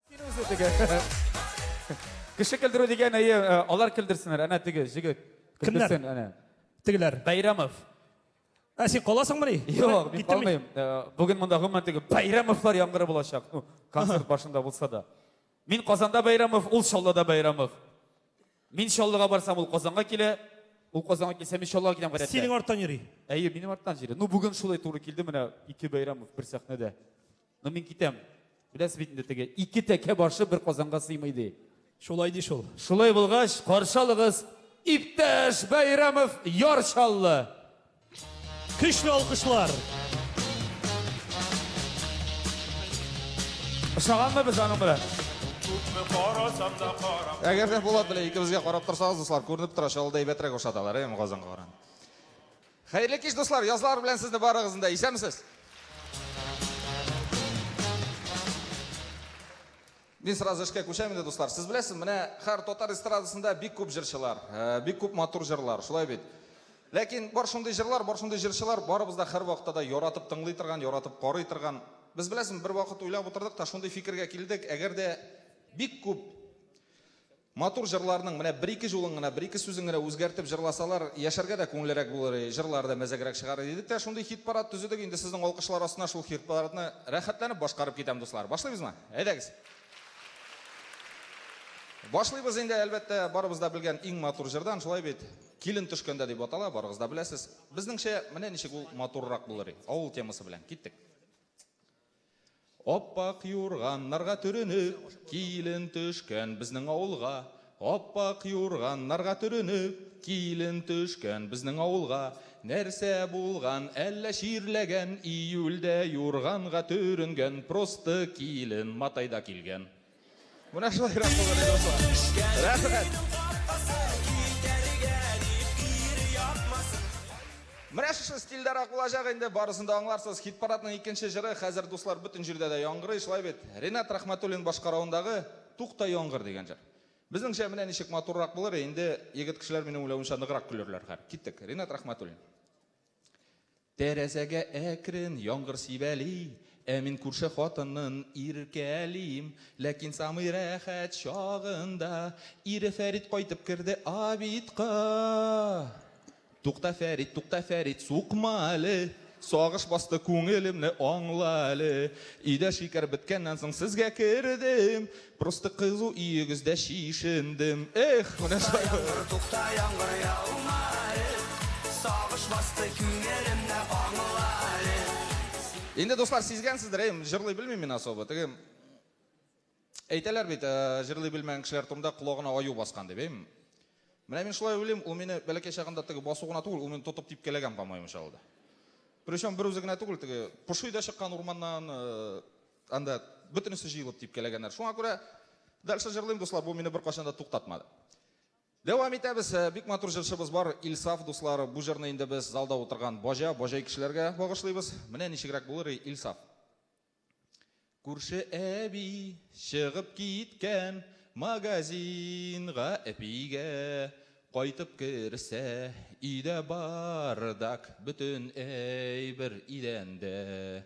Син үзе теге. Кеше көлдерү дигән, әйе, э, алар көлдерсеннәр. Әнә теге җегет. Кемнәр? Көлдерсен, әнә. Тегеләр. Бәйрәмов. Ә син каласыңмы ни? Юк, мин Киттем калмыйм. Э, Бүген монда гомумән теге Бәйрәмовлар яңгыры булачак. Ну, концерт башында булса да. Мин Казанда Бәйрәмов, ул Чаллыда Бәйрәмов. Мин Чаллыга барсам, ул Казанга килә. Ул Казанга килсә, мин Чаллыга киләм гадәттә. Синең арттан йөри. Әйе, минем арттан җире. Ну, бүген шулай туры килде менә ике Бәйрәмов бер сәхнәдә. Ну, мин китәм. Беләсез бит инде теге, ике тәкә башы бер казанга сыймый ди. Шулай ди шул. Шулай булгач, каршы алыгыз, иптәш Бәйрәмов Яр Чаллы. Көчле алкышлар. Ошаганмы без аның белән? Күпме карасам да карам. Әгәр дә Булат белән икебезгә карап торсагыз, дуслар, күренеп тора, Чаллыда әйбәтрәк ошаталар, әйеме Казанга караганда. Хәерле кич дуслар, язлар белән сезне барыгызны да, исәнмесез? Мин сразу эшкә күчәм инде дуслар. Сез беләсез, менә хәр татар эстрадасында бик күп җырчылар, э, бик күп матур җырлар, шулай бит. Ләкин бар шундый җырлар, бар шундый җырчылар, барыбыз да хәр вакытта да яратып тыңлый торган, яратып карый торган. Без беләсез, бер вакыт уйлап утырдык та шундый фикергә килдек, әгәр дә бик күп Матур җырларның менә бер-ике җулын гына, бер-ике сүзен генә үзгәртеп җырласалар, яшәргә дә күңеллерәк булыр иде, җырлары да мәзәгрәк чыгар иде дидек тә, шундый хит-парад төзедек, инде сезнең алкышлар астына шул хит-парадны рәхәтләнеп башкарып китәм, дуслар. Башлыйбызмы? Әйдәгез! Башлыйбыз инде, әлбәттә, барыбыз да белгән иң матур җырдан, шулай бит? Килен төшкәндә дип атала, барыгыз да беләсез. Безнеңчә, менә ничек ул матуррак булыр иде, авыл темасы белән. Киттек! Ап-ак юрганнарга төренеп, Килен төшкән безнең авылга. Ап-ак юрганнарга төренеп, Килен төшкән безнең авылга. Нәрсә булган, әллә чирләгән, Июльдә юрганга төренгән Просты килен матайда килгән. Менә шулай рәхмәт булды, дуслар. Рәхмәт. Менә шушы стильдарак булачак инде, барысын да аңларсыз. Хит парадның икенче җыры хәзер, дуслар, бөтен җирдә дә яңгырый, шулай бит? Ренат Рахматуллин башкаруындагы Тукта яңгыр дигән җыр. Безнеңчә менә ничек матуррак булыр, инде егет кешеләр минем уйлавымча ныграк көлерләр хәр. Киттек. Ренат Рахматуллин. Тәрәзәгә әкрен яңгыр сибәли, Ә мин күрше хатынын иркәлим. Ләкин самый рәхәт чагында Ире Фәрит кайтып керде обедка. Тукта, Фәрит, тукта, Фәрит, сукма әле! Сагыш басты күңелемне, аңла әле. Өйдә шикәр беткәннән соң сезгә кердем. Просто кызу өегездә чишендем. Эх, менә шулай. Тукта яңгыр, тукта яңгыр яума әле. Сагыш басты күңелемне аңла әле. Инде дуслар сизгәнсездер, әй, җырлый белмим мин особо. Теге әйтәләр бит, җырлый белмәгән кешеләр турында колагына аю баскан дип, әйм. Менә мин шулай уйлыйм, ул мине бәләкәй чагында теге басу гына түгел, ул мине тотып типкәләгән, по-моему, чалды. Причем бер үзе генә түгел, теге поши да чыккан урманнан, Анда бөтенесе җыелып типкәләгәннәр. Шуңа күрә дальше җырлыйм, дуслар, бу мине беркайчан да туктатмады. Дәвам итәбез. Э, бик матур җырчыбыз бар, Илсаф дуслар. Бу җырны инде без залда утырган баҗа, баҗай кешеләргә багышлыйбыз. Менә ничегрәк булыр и, Илсаф. Күрше әби чыгып киткән магазинга әпигә кайтып керсә, өйдә бардак, бөтен әйбер идәндә.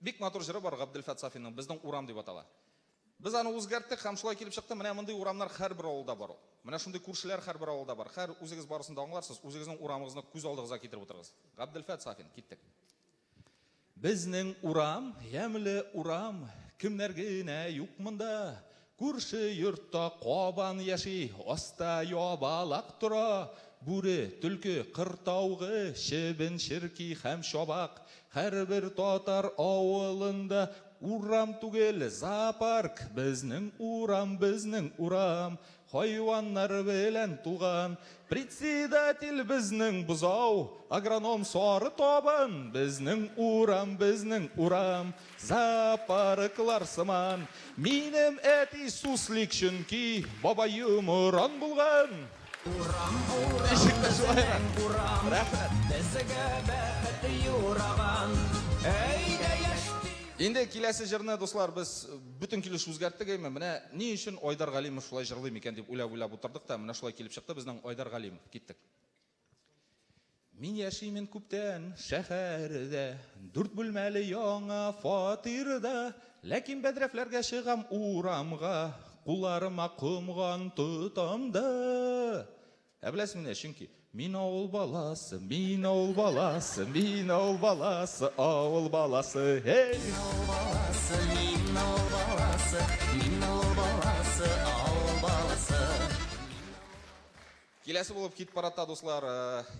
Бик матур җыры бар Габделфәт Сафинның, Безнең урам дип атала. Без аны үзгәрттек һәм шулай килеп чыкты, менә мондый урамнар һәрбер авылда бар ул. Менә шундый күршеләр һәрбер авылда бар. Хәер, үзегез барысын да аңларсыз, үзегезнең урамыгызны күз алдыгызга китереп утырыгыз. Габделфәт Сафин, киттек. Безнең урам, ямьле урам, Кемнәр генә юк монда. Күрше йортта кабан яши, аста ябалак тора, бүре, төлке, кыр таугы, чебен, черки һәм чабак. Һәрбер татар авылында урам түгел, зоопарк, безнең урам, безнең урам, хайваннар белән тулган. Председатель безнең бозау, агроном сары табын, безнең урам, безнең урам. Зоопарклар сыман минем әти суслик чөнки бабаем уран булган. Урам Ничек тә шулай урам. Рәхмәт. Безгә бәхет юраган. Әйдә яшь Инде киләсе җырны, дуслар, без бөтен килеш үзгәрттек, әйме. Менә ни өчен Айдар Галимов шулай җырлый микән дип уйлап-уйлап утырдык та, менә шулай килеп чыкты безнең Айдар Галимов. Киттек. Мин яшимен күптән шәһәрдә, Дүрт бүлмәле яңа фатирда. Ләкин бәдрәфләргә чыгам урамга, Кулларыма комган тотам да. Ә беләсеңмени, чөнки Мин авыл баласы, мин авыл баласы, Мин авыл баласы, авыл баласы, һей! Мин авыл баласы, мин авыл баласы, Мин авыл баласы, авыл баласы. Киләсе булып хит парадта дуслар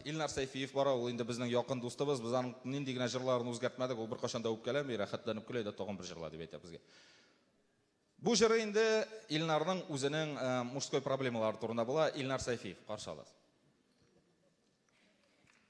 Илнар Сәйфиев бара, ул инде безнең якын дустыбыз, без аның нинди генә җырларын үзгәртмәдек, ул беркайчан да үпкәләми, рәхәтләнеп көлә дә тагын бер җырла дип әйтә безгә. Бу җыры инде Илнарның үзенең мужской проблемалары турында була, Илнар Сәйфиев, каршы алыгыз.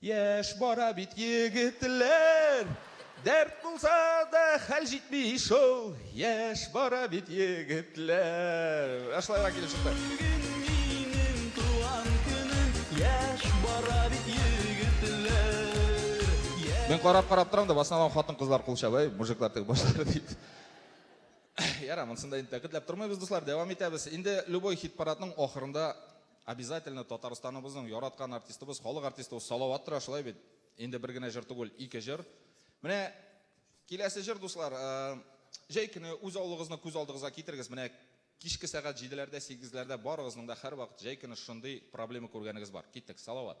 Яшь бара бит егетләр, Дәрт булса да хәл җитми шул, Яшь бара бит егетләр. Ә шулайга килеп чыкты. Мин карап-карап торам да, басынан хатын-кызлар кул чаба, әй, мужиклар теге башлары дип. Яра, монсында инде тәкитләп тормыйбыз, дуслар, дәвам итәбез. Инде любой хит-парадның ахырында Обязательно Татарстаныбызның яраткан артистыбыз, халык артистыбыз Салават тора, шулай бит? Инде бер генә җыр түгел, ике җыр. Менә киләсе җыр, дуслар, җәй көне үз авылыгызны күз алдыгызга китерегез. Менә кичке сәгать җиделәрдә, сигезләрдә барыгызның да һәрвакыт җәй көне шундый проблема күргәнегез бар. Киттек, Салават.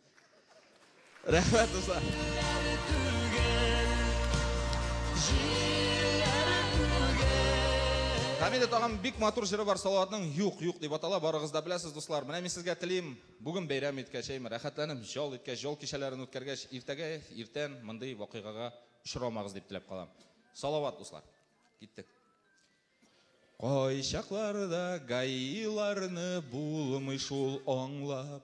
Рәхмәт, дуслар. Камилә тагын бик матур җыры бар Салаватның Юк, юк дип атала. Барыгыз да беләсез, дуслар. Менә мин сезгә телим, бүген бәйрәм иткәч, әйме, рәхәтләнеп җал иткәч, җал кичәләрен үткәргәч, иртәгә, иртән мондый вакыйгага очрамагыз дип теләп калам. Салават, дуслар. Киттек. Кайчакларда гаиларны булмый шул аңлап.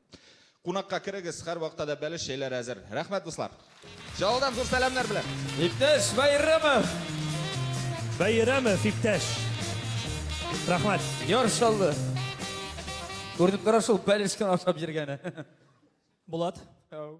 Кунакка керегез, һәрвакытта да бәлеш чәйләре әзер. Рәхмәт, дуслар. Чаллыдан зур сәламнәр белән. Иптәш Бәйрәмов. Бәйрәмов иптәш. Рәхмәт. Яр Чаллы. Күренеп тора шул бәлешкән ашап йөргәне. Булат. Ау.